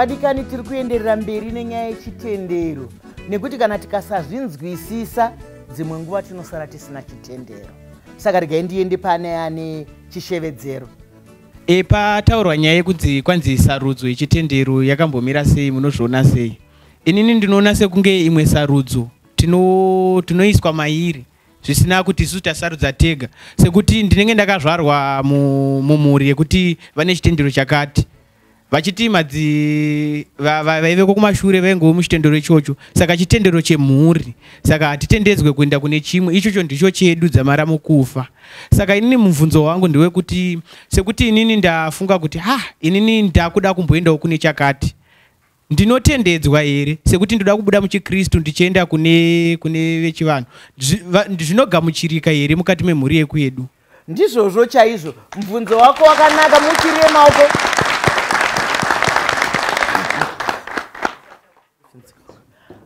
vadikani tiri kuenderera mberi nenyaya yechitendero nekuti kana tikasazvinzwisisa dzimwe nguva tinosara tisina chitendero saka regai ndiende pane ane chishevedzero E, pataurwa nyaya yekunzi kwanzi sarudzo yechitendero yakambomira sei munozviona sei inini ndinoona sekunge imwe sarudzo tinoiswa tino mairi zvisina kuti isu tasarudza tega sekuti ndinenge ndakazvarwa mumhuri yekuti vane chitendero chakati vachiti madzi vaive kokumashure vaingovo muchitendero ichocho saka chitendero chemhuri saka hatitendedzwe kuenda kune chimwe ichocho ndicho chedu dzamara mukufa saka inini mubvunzo wangu ndewekuti sekuti inini ndafunga kuti ha ah, inini ndakuda kumboendawo kune chakati ndinotendedzwa here sekuti ndoda kubuda muchikristu ndichienda kune kune vechivanhu zvinogamuchirika here mukati memhuri yekwedu ndizvozvo chaizvo mubvunzo wako wakanaka muchirie maoko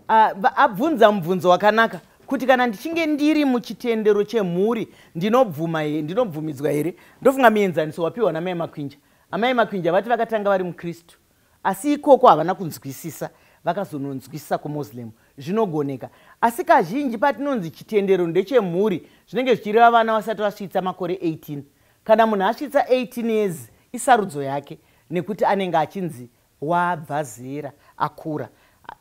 ah, abvunza mubvunzo wakanaka kuti kana ndichinge ndiri muchitendero chemhuri ndinobvuma here ndinobvumidzwa here ndofunga mienzaniso wapiwa namai makwinja amai makwinja vati vakatanga vari mukristu asi ikoko havana kunzwisisa vakazononzwisisa kumuslim zvinogoneka asi kazhinji patinonzi chitendero ndechemhuri zvinenge zvichireva vana vasati vasvitsa makore 18 kana munhu asvitsa 18 years isarudzo yake nekuti anenge achinzi wabva zera akura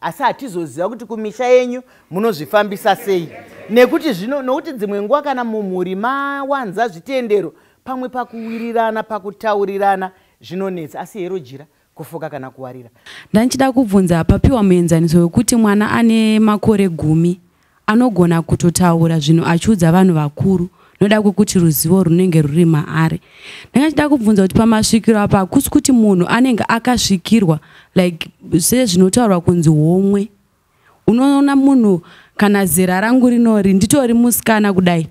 asi hatizoziva kuti kumisha yenyu munozvifambisa sei nekuti zvino nokuti dzimwe nguva kana mumhuri mawanza zvitendero pamwe pakuwirirana pakutaurirana zvinonetsa asi hero jira kufuka kana kuwarira ndandichida kubvunza papiwa muenzaniso wekuti mwana ane makore gumi Anogona kutotaura zvinhu achiudza vanhu vakuru noda kwekuti ruzivo runenge ruri maari ndanga chida kubvunza kuti pamasvikiro apa hakusi kuti munhu anenge akasvikirwa like sezvinotaurwa kunzi homwe unoona munhu kana zera rangu rinori nditori musikana kudai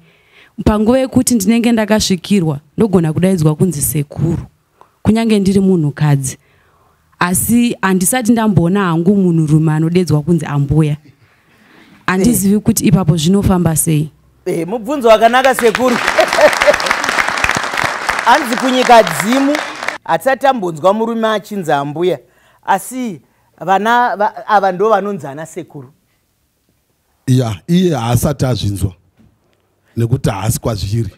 panguva yekuti ndinenge ndakasvikirwa ndogona kudaidzwa kunzi sekuru kunyange ndiri munhukadzi asi handisati ndamboona hangu munhurume anodedzwa kunzi ambuya handizivi eh. kuti ipapo zvinofamba sei eh, mubvunzo wakanaka sekuru hanzi kunyika dzimu hatisati tambonzwa murume achinzi ambuya asi vana ava ndo vanonzi ana sekuru ya iye haasati azvinzwa nekuti haasi kwazviri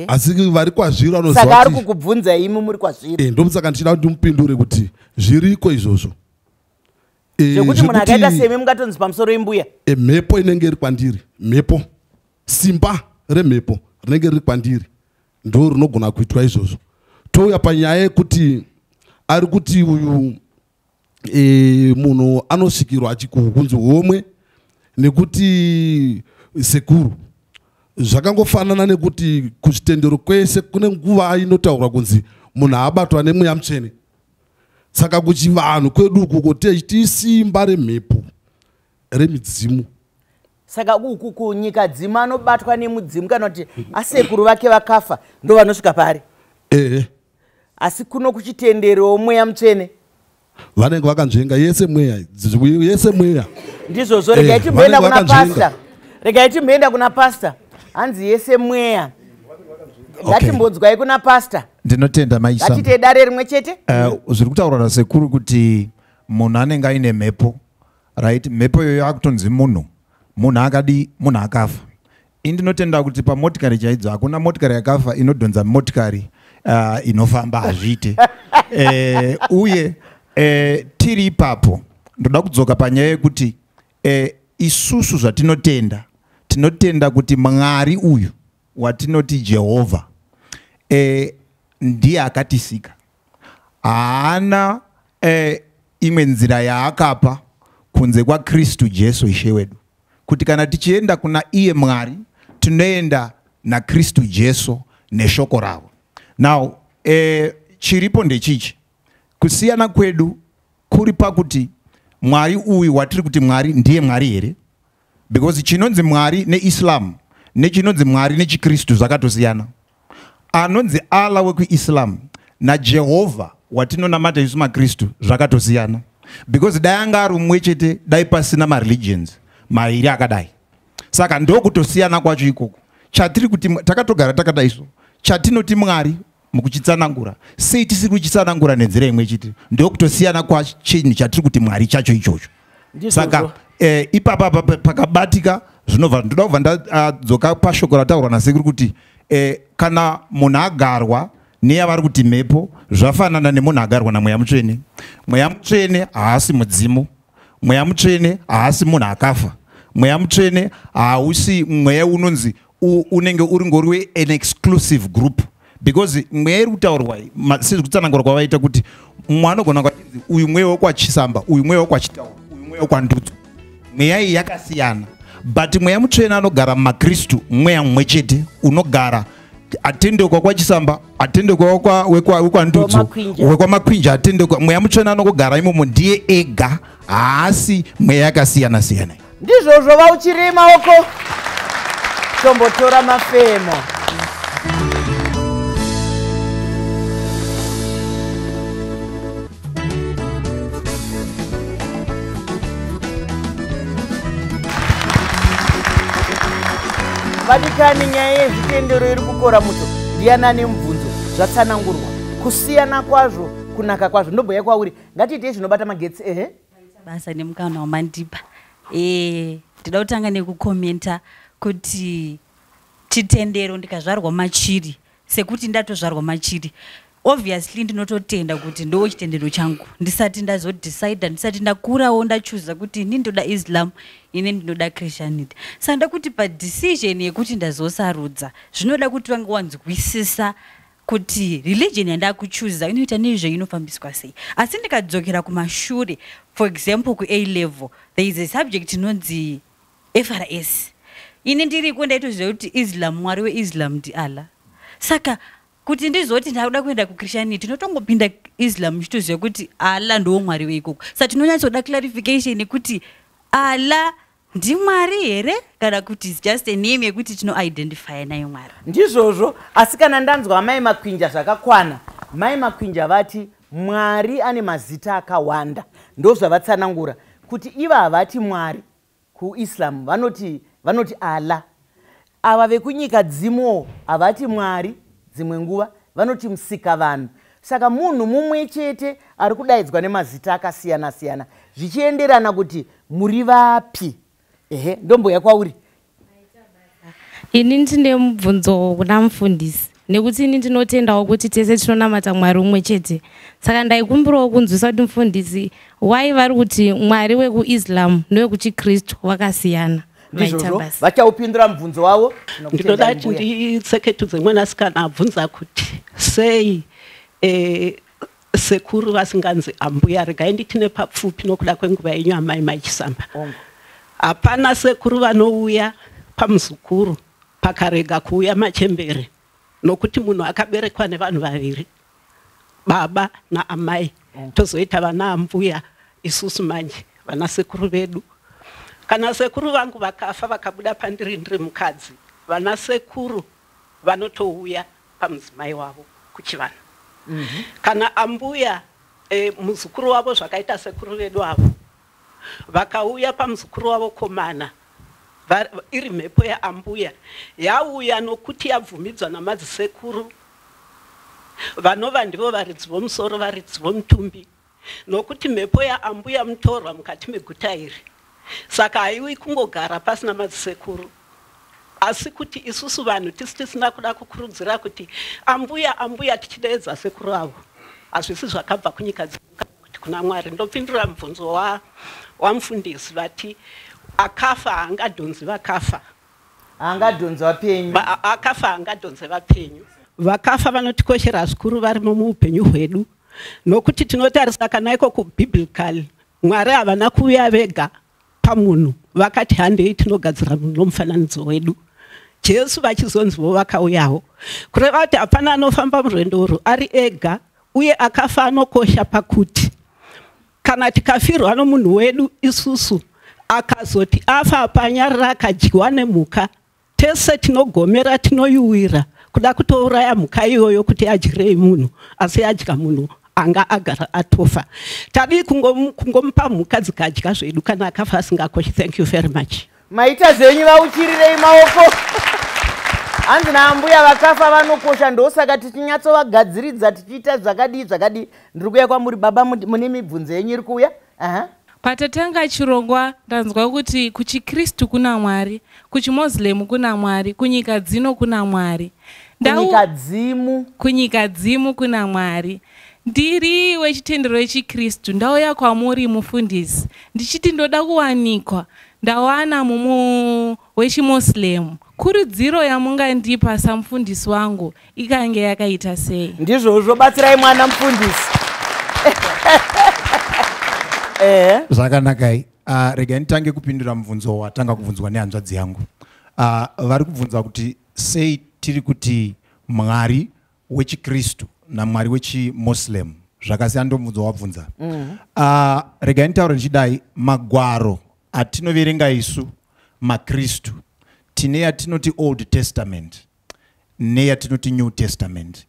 asi vari kwazviri vanozosaka ari kukubvunza imi muri kwazviri eh, ndomusaka ndichida kuti ndimupindure kuti zviriko izvozvo eh, zvekuti munhu akaita semi mungatonzi pamusoro imbuya eh, mhepo inenge iri kwandiri mhepo simba remhepo rinenge riri kwandiri ndo rinogona kuitwa izvozvo touya panyaya yekuti ari kuti uyu e, munhu anosvikirwa kunzi homwe nekuti sekuru zvakangofanana nekuti kuzvitendero kwese kune nguva inotaurwa kunzi munhu aabatwa nemweya mutsvene saka kuchivanhu kwedu uku kuti tisimba remhepo remidzimu saka kunyika dzimu anobatwa nemudzimu kana kuti asekuru vake vakafa ndo vanosvika pari ehe asi kuno kuchitenderewo mweya mutsvene vanenge vakanzvenga yese mweya yese mweya ndizvozvo regai eh, timboenda kuna pasta regai timboenda kuna pasta hanzi yese mweya ngatimbodzwai kuna pasta ndinotenda maisatite dare rimwe chete eh, zviri kutaurwa nasekuru kuti munhu anenge aine mhepo right mhepo iyoyo akutonzi munhu munhu akadii munhu akafa indinotenda kuti pamotikari chaidzo hakuna motikari yakafa inodhonza motikari uh, inofamba hazviite e, uye e, tiri ipapo ndoda kudzoka panyaya yekuti e, isusu zvatinotenda tinotenda kuti mwari uyu watinoti jehovha e, ndiye akatisika haana eh, imwe nzira yaakapa kunze kwakristu jesu ishe wedu kuti kana tichienda kuna iye mwari tinoenda nakristu jesu neshoko ravo now eh, chiripo ndechichi kusiyana kwedu kuri pakuti mwari uyu watiri kuti mwari ndiye mwari here because chinonzi mwari neislam nechinonzi mwari nechikristu zvakatosiyana anonzi allah wekuislam najehovha watinonamata isu makristu zvakatosiyana because dai anga ari umwe chete dai pasina mareligions mairi akadai saka ndokutosiyana kwacho ikoko chatiri kuti takatogara takadai so chatinoti mwari mukuchitsanangura sei tisiri kuchitsanangura nenzira imwe chete ndokutosiyana kwachinhu chatiri kuti mwari chacho ichocho saka eh, ipapa pakabatika zvinobva ndoda kubva ndadzoka ah, pashoko rataurwa nasekuru kuti eh, kana munhu agarwa neyavari kuti mhepo zvafanana nemunhu agarwa namweya mutsvene mweya mutsvene haasi mudzimu mweya mutsvene haasi munhu akafa mweya mutsvene hausi mweya unonzi unenge uri ngori we an exclusive group because mweya iri kutaurwa sezvekutsanangura kwavaita kuti mumwe anogona kwatinzi uyu mweya wekwachisamba uyu mweya wekwachitaura uyu mweya wekwandudzo mweya iyi yakasiyana but mweya mutsvene anogara mumakristu mweya mumwe chete unogara atende kwakwachisamba atende wekwandudzo wekwamakwinja atende mweya mutsvene anongogara imomo ndiye ega haasi mweya yakasiyana siyana ndizvozvo vauchirima uko tombotora mafemo vadikani nyaya yezvitendero iri kukora muto ndiyani ane mubvunzo zvatsanangurwa kusiyana kwazvo kunaka kwazvo ndobhoya kwauri ngatiitei zvinobata magetsi ehe basa nemukana wamandipa eh, ndida kutanga nekukomenta kuti chitendero ndikazvarwa machiri sekuti ndatozvarwa machiri obviously ndinototenda kuti ndo chitendero changu ndisati ndazodecide ndisati ndakurawo ndachuza kuti ini ndoda islam ini ndinoda christianity saka ndakuti padecision yekuti ndazosarudza zvinoda kuti vange wanzwisisa kuti religion yandakuchuza inoita nezvei inofambiswa sei asi ndikadzokera kumashure for example ku a level there is a subject inonzi frs ini ndiriko ndaitoziva kuti islam mwari weislam ndi allah saka kuti ndizoti ndakuda kuenda kuchristianity ndotongopinda islam ndichitoziva kuti allah ndowo mwari weikoko sa tinonyatsoda clarification yekuti allah ndimwari here kana kuti is just a name yekuti tinoidentifya nayo mwari ndizvozvo asi kana ndanzwa amai makwinja zvakakwana mai makwinja vati mwari ane mazita akawanda ndozvavatsanangura kuti iva havati mwari kuislam vanoti vanoti allah Ava vekunyika dzimo havati mwari dzimwe nguva vanoti musika vanhu saka munhu mumwe chete ari kudaidzwa nemazita akasiyana siyana zvichienderana kuti muri vapi ehe ndomboya kwauri ini ndine mubvunzo kuna mufundisi nekuti ini ndinotendawo kuti tese tinonamata mwari umwe chete saka ndaikumbirawo kunzwisa kuti mufundisi why vari kuti mwari wekuislam newekuchikristu vakasiyana ndizvozvo vachaupindura mubvunzo wavo ndinoda kuti nditseketu dzemwanasikana abvunza kuti sei eh, sekuru vasinganzi ambuya regai nditine papfupi nokuda kwenguva yenyu amai maichisamba hapana sekuru vanouya pamuzukuru pakarega kuuya machembere nokuti munhu akaberekwa nevanhu vaviri baba naamai mm. tozoita vana ambuya isusu manje vana sekuru vedu kana sekuru vangu vakafa vakabuda pandiri ndiri mukadzi vana sekuru vanotouya pamudzimai wavo kuchivanhu mm -hmm. kana ambuya e, muzukuru wavo zvakaita sekuru vedu avo vakauya pamuzukuru wavo komana iri mhepo yaambuya yauya nokuti yabvumidzwa namadzisekuru vanova ndivo varidzi vomusoro varidzi vomutumbi nokuti mhepo yaambuya mutorwa mukati meguta iri saka haiwi kungogara pasina madzisekuru asi kuti isusu vanhu tisi tisina kuda kukurudzira kuti ambuya ambuya tichideedza sekuru avo hazvisi zvakabva kunyika dzimwe kuti kuna mwari ndopindura mubvunzo wa, wamufundisi vati akafa haangadhonzi vakafa haangadhonzi vapenyu Ba- akafa haangadhonzi vapenyu vakafa vanotikoshera zvikuru varimo muupenyu hwedu nokuti tinotarisa kana ikoko biblical mwari havana kuuya vega pamunhu vakati handei tinogadzira munhu nomufananidzo wedu jesu vachizonzivo vakauyawo kureva kuti hapana anofamba murwendo urwu ari ega uye akafa anokosha pakuti kana tikafirwa nomunhu wedu isusu akazoti afa apanyarira akadyiwa nemhuka Tese tinogomera tinoyuwira kuda kutouraya mhuka iyoyo kuti adyirei munhu asi yadya munhu anga agara atofa tadii kungomupa mhuka dzikadya zvedu kana akafa asingakoshi thank you very much maita zvenyu vauchirirei maoko hanzi naambuya vakafa vanokosha ndosaka tichinyatsovagadziridza tichiita zvakadii zvakadii ndiri kuya kwamuri baba mune mibvunzo yenyu iri kuuya Patatanga chirongwa ndanzwa kuti kuchiKristu kuna Mwari, kuchiMoslem kuna Mwari, kunyika dzino kuna Mwari. Kunyika dzimu. Kunyika dzimu kuna Mwari. Ndiri wechitendero yechiKristu, ndauya kwamuri mufundisi ndichiti ndoda kuwanikwa ndawana mumu wechiMoslem, kurudziro yamungandipa samufundisi wangu ikange yakaita sei? Ndizvozvo, batsirai mwana mufundisi. Eh. Zvakanakai. Ah, rega nditange kupindura mubvunzo watanga kubvunzwa nehanzvadzi yangu. Ah, vari kubvunza kuti sei tiri kuti Mwari wechiKristu naMwari wechiMoslem zvakasiyana ndomubvunzo wabvunza. Mm. Ah, rega nditaure ndichidai magwaro atinoverenga isu makristu tine yatinoti old testament neyatinoti new testament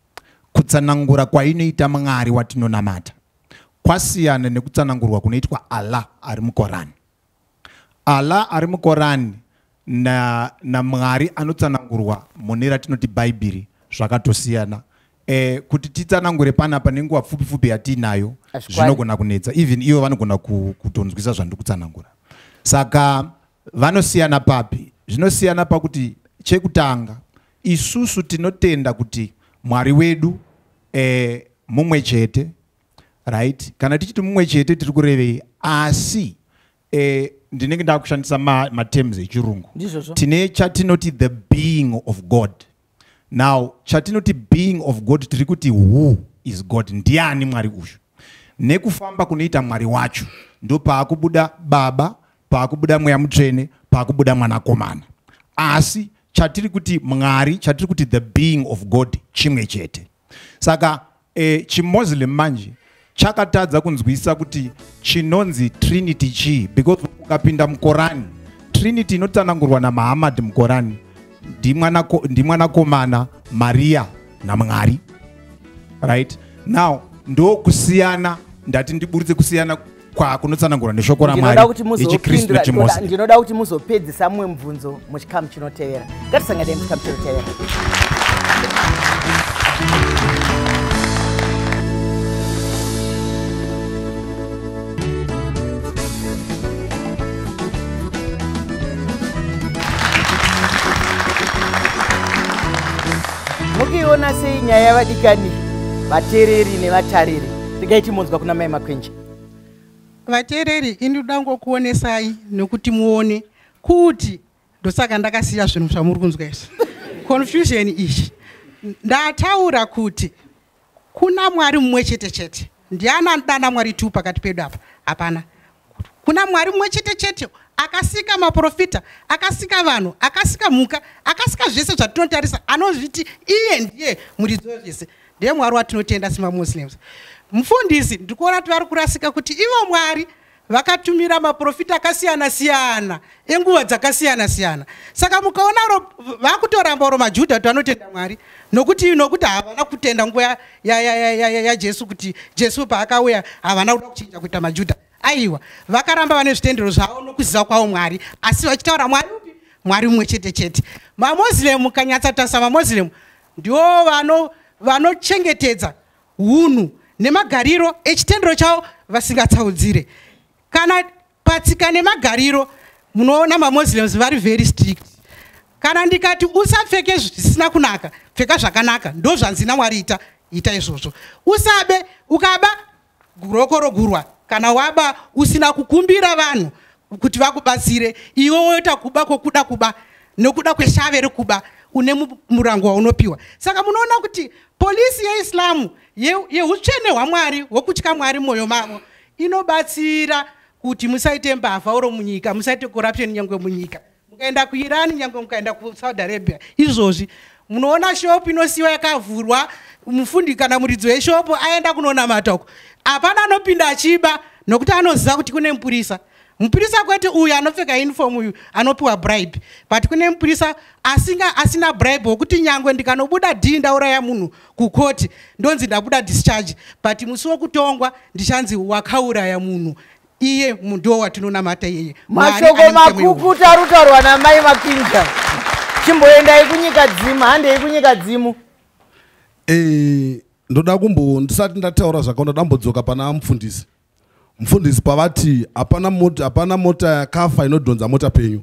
kutsanangura kwainoita mwari watinonamata kwasiyana nekutsanangurwa kunoitwa allah ari mukorani allah ari mukorani na naMwari anotsanangurwa mune ratinoti Bhaibheri zvakatosiyana eh, kuti titsanangure panapa nenguva pfupi pfupi yatiinayo zvinogona kunetsa even ivo vanogona kutonzwisa zvandiri kutsanangura saka vanosiyana papi zvinosiyana pakuti chekutanga isusu tinotenda kuti mwari wedu eh, mumwe chete right kana tichiti mumwe chete tiri kurevei asi eh, ndinenge ndakushandisa matems ma echirungu tine chatinoti the being of god now chatinoti being of god tiri kuti who is god ndiani mwari uyu nekufamba kunoita mwari wacho ndo paakubuda baba paakubuda mweya mutsvene paakubuda mwanakomana asi chatiri kuti mwari chatiri kuti the being of god chimwe chete saka e, chimuslim manje chakatadza kunzwisa kuti chinonzi trinity chii because ukapinda mukorani trinity inotsanangurwa namahamad mukorani ndimwanakomana mariya namwari right now ndokusiyana ndati ndiburitse kusiyana kwakunotsanangura neshoko ramwari yechikristu nechimose ndinoda kuti muzopedzisa mumwe mubvunzo muchikamu chinotevera ngatisanganei muchikamu chinotevera mukiona sei nyaya yavadikani vatereri nevatariri regai timonzwa kuna mai makwenji vateereri ini ndoda ngokuonesai nokuti muone kuti ndosaka ndakasiya zvinhu zvamuri kunzwa izvi confusion izvi ndataura kuti kuna mwari mumwe chete chete ndiani anoda ana mwari two pakati pedu apa hapana kuna mwari mumwe chete chete akasika maprofita akasika vanhu akasika mhuka akasika zvese zvatinotarisa anozviti iye ndiye muridzi wezvese ndiye mwari watinotenda semamuslims mufundisi ndikuona kuti vari kurasika kuti ivo mwari vakatumira maprofita akasiyana siyana enguva dzakasiyana siyana saka mukaona ro vakutoramba oro majudha kuti vanotenda mwari nokuti nokuti havana kutenda nguva yajesu kuti jesu paakauya havana kuda kuchinja kuita majudha aiwa vakaramba vane zvitendero zvavo nokuziva kwavo mwari asi vachitaura mwari upi mwari mumwe chete chete mamoslem kanyatsa tasa mamoslem ndiwo vano vanochengetedza hunhu nemagariro echitendero chavo vasingatsaudzire kana patsika nemagariro munoona mamuslims vari very strict kana ndikati usapfeke zvisina kunaka pfeka zvakanaka ndozvanzi namwari ita ita izvozvo usabe ukaba guroko rogurwa kana waba usina kukumbira vanhu kuti vakubatsire iwe woita kuba kwokuda kuba nokuda kweshave rekuba une murango waunopiwa saka munoona kuti polisi yeislamu yeutsvene ye hwamwari hwokutya mwari mwoyo mavo inobatsira kuti musaite mbavha oro munyika musaite corruption nyangwe munyika mukaenda kuirani nyange mukaenda kusaudi arabia izvozvi munoona shopu inosiyiwa yakavhurwa mufundi kana muridzi weshopu aenda kunonamata uko hapana anopinda achiba nokuti anoziva kuti kune mupurisa mupurisa kwete uyu anopfeka uniform uyu anopiwa bribe but kune mupurisa asinga asina bribe wokuti nyangwe ndikanobuda dhii ndauraya munhu kukoti ndonzi ndabuda discharge but musi wokutongwa ndichanzi wakauraya munhu iye mundiwo watinonamata iyeye mashoko makukuta arutaurwa namai mapinja chimboendai kunyika dzimu handei kunyika dzimu eh, ndoda kumbo ndisati ndataura zvaka ndoda mbodzoka pana mufundisi mufundisi pavati hapana mota hapana mota yakafa inodhonza mota penyu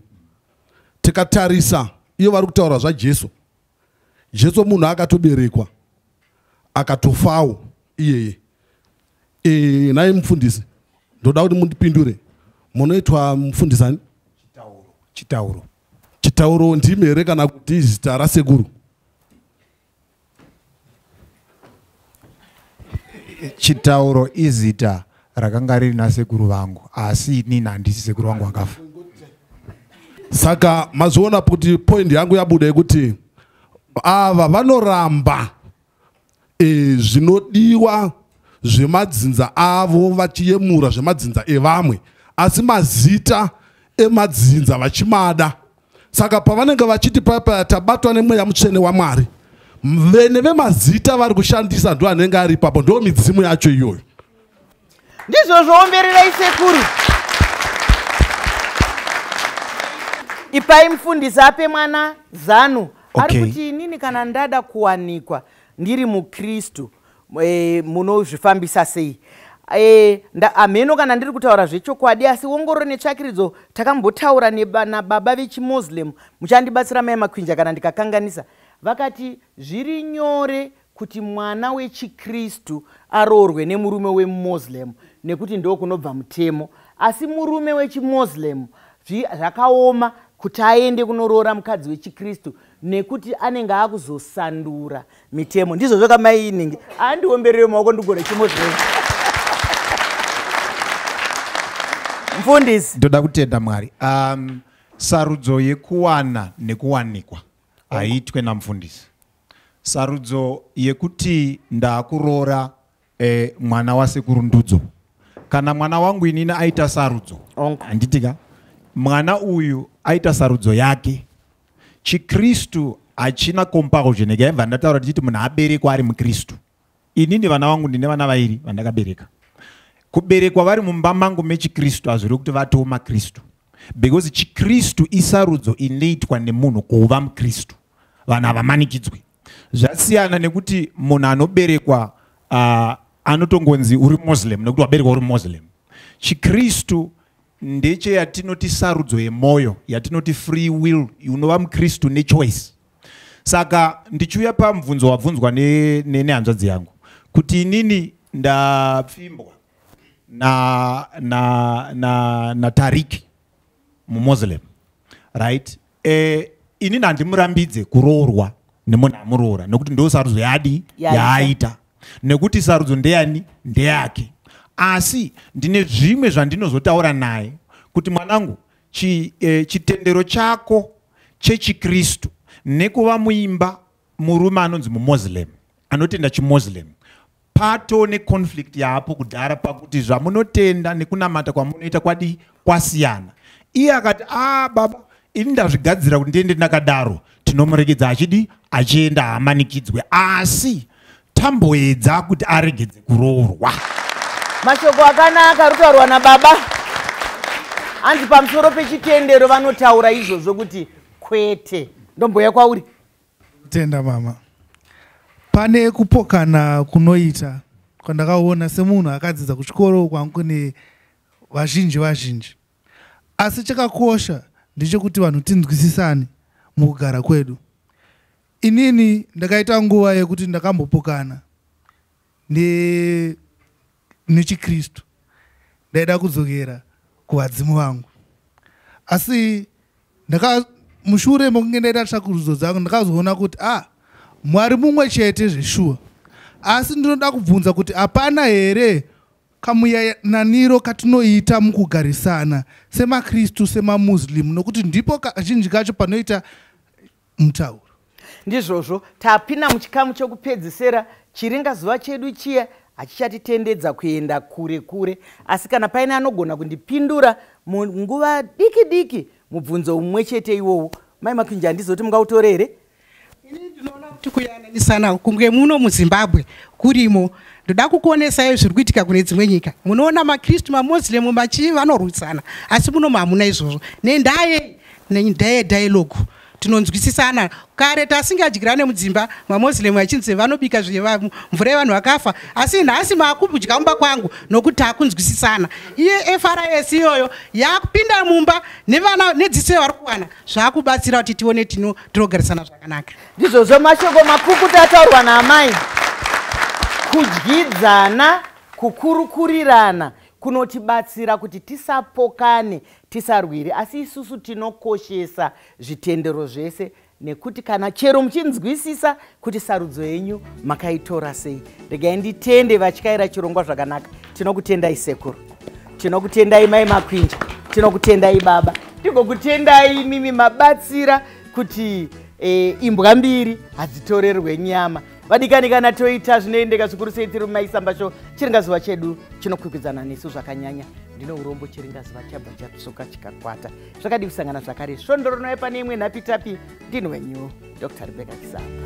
tikatarisa iyo vari kutaura zvajesu jesu munhu akatoberekwa akatofawo iyeye e, naye mufundisi ndoda kuti mundipindure munoitwa mufundisi ani chitauro chitauro chitauro ndimi here kana kuti zita rasekuru chitauro izita rakanga riri nasekuru vangu asi inini handisi sekuru vangu vakafa saka mazviona kuti point yangu yabuda yekuti ava vanoramba e, zvinodiwa zvemadzinza avo vachiyemura zvemadzinza evamwe asi mazita emadzinza vachimada saka pavanenge vachiti paya paya tabatwa nemweya mutsvene wamwari vene vemazita vari kushandisa ndo anenge ari ipapo ndo midzimu yacho iyoyo ndizvo zvoombererai sekuru ipai mufundisi ape mwana zanu okay. ari kuti inini kana ndada kuwanikwa ndiri mukristu e, munozvifambisa sei e, hameno kana ndiri kutaura zvechokwadi asi wongororo netsvakiridzo takambotaura nababa vechimuslim muchandibatsira mai makwinja kana ndikakanganisa vakati zviri nyore kuti mwana wechikristu aroorwe nemurume wemuslim nekuti ndo kunobva mutemo asi murume wechimuslim zvakaoma kuti aende kunoroora mukadzi wechikristu nekuti anenge akuzosandura mitemo ndizvo zvoka mai inenge andiomberere maoko ndigore chimo zvee mfundisi ndoda kutenda mwari um, sarudzo yekuwana nekuwanikwa haiitwe namfundisi sarudzo yekuti ndaakuroora eh, mwana wasekuru ndudzo kana mwana wangu inini aita sarudzo handiti ka mwana uyu aita sarudzo yake chikristu hachina compulsion ekaiva ndataura tichiti munhu aberekwa ari mukristu inini vana vangu ndine vana vairi vandakabereka kuberekwa vari mumba mangu mechikristu hazviri kuti vatowo makristu because chikristu isarudzo inoitwa nemunhu kuva mukristu vanhu havamanikidzwi zvasiyana nekuti munhu anoberekwa uh, anotongonzi uri muslim nekuti waberekwa uri muslim chikristu ndecheyatinoti sarudzo yemwoyo yatinoti free will unova mukristu nechoice saka ndichiuya pamubvunzo wabvunzwa nehanzvadzi ne, ne yangu kuti inini ndapfimbwa na, na, na, na tariki mumuslim right eh, inini handimurambidze kuroorwa nemunhu amuroora nekuti ndo sarudzo yadi yaaita nekuti sarudzo ndeyani ndeyake asi ndine zvimwe zvandinozotaura naye kuti mwanangu chi, eh, chitendero chako chechikristu nekuva muimba murume anonzi mumoslem anotenda chimoslem pato neconflict yaapo kudhara pakuti zvamunotenda nekunamata kwamunoita kwadii kwasiyana iye akati a ah, baba ini ndazvigadzira kuti ndiende ndakadaro tinomuregedza achidii achienda hamanikidzwe asi tamboedza kuti aregedze kuroorwa mashoko akanaka rutaurwa nababa hanzi pamusoro pechitendero vanotaura izvozvo kuti kwete ndomboya kwauri Tenda mama. Pane kupokana kunoita kwandakaona semunhu akadzidza kuchikoro kwangu ne vazhinji vazhinji. Asi chakakosha ndechekuti vanhu tinzwisisane mukugara kwedu. Inini ndakaita nguva yekuti ndakambopokana ne nechikristu ndaida kudzokera kuvadzimu vangu asi ndaka mushure mokunge ndaita tsvakurudzo dzangu ndakazoona kuti a ah, mwari mumwe chete zveshuwa asi ndinoda kubvunza kuti hapana here kamuyananiro katinoita mukugarisana semakristu semamuslim nokuti ndipo kazhinji kacho panoita mutauro ndizvozvo tapinda muchikamu chokupedzisera chiringa zuva chedu chiya hachichatitendedza kuenda kure kure asi kana paine anogona kundipindura munguva diki diki mubvunzo umwe chete iwowo mai makwinji handizoti mungautore here ini ndinoona kuti kuyananisana kunge muno muzimbabwe kurimo ndoda kukuonesayo zviri kuitika kune dzimwe nyika munoona makristu mamoslem machii vanorwisana asi muno mahamuna izvozvo nendaa yei Neye dialogue tinonzwisisana kare tasingadyirane mudzimba mamoslem achinzi vanobika mvura yevanhu vakafa asi nhasi maakudya mumba kwangu nokuti takunzwisisana iye fris iyoyo yakupinda mumba nevana nedziso yavari kuwana zvakubatsira kuti tione tino tinogarisana zvakanaka ndizvozvo mashoko makukuti ataurwa naamai kudyidzana kukurukurirana kunotibatsira kuti tisapokane tisarwiri asi isusu tinokoshesa zvitendero zvese nekuti kana chero muchinzwisisa kuti sarudzo yenyu makaitora sei regai nditende vatyaira chirongwa zvakanaka tinokutendai sekuru tinokutendai mai makwinja tinokutendai baba tigokutendai mimi mabatsira kuti e, imbwa mbiri hadzitorerwe nyama vadikani kana toita zvinoendeka zvikuru sei tiri mumaisamba sho chiringazuva chedu chinokwikwidzana nesu zvakanyanya ndine urombo chiringazuva chabva chapsuka chikakwata zvakadii kusangana zvakare svondo rinouya pane imwe nhapitapi ndini wenyu dr rebeka kisamba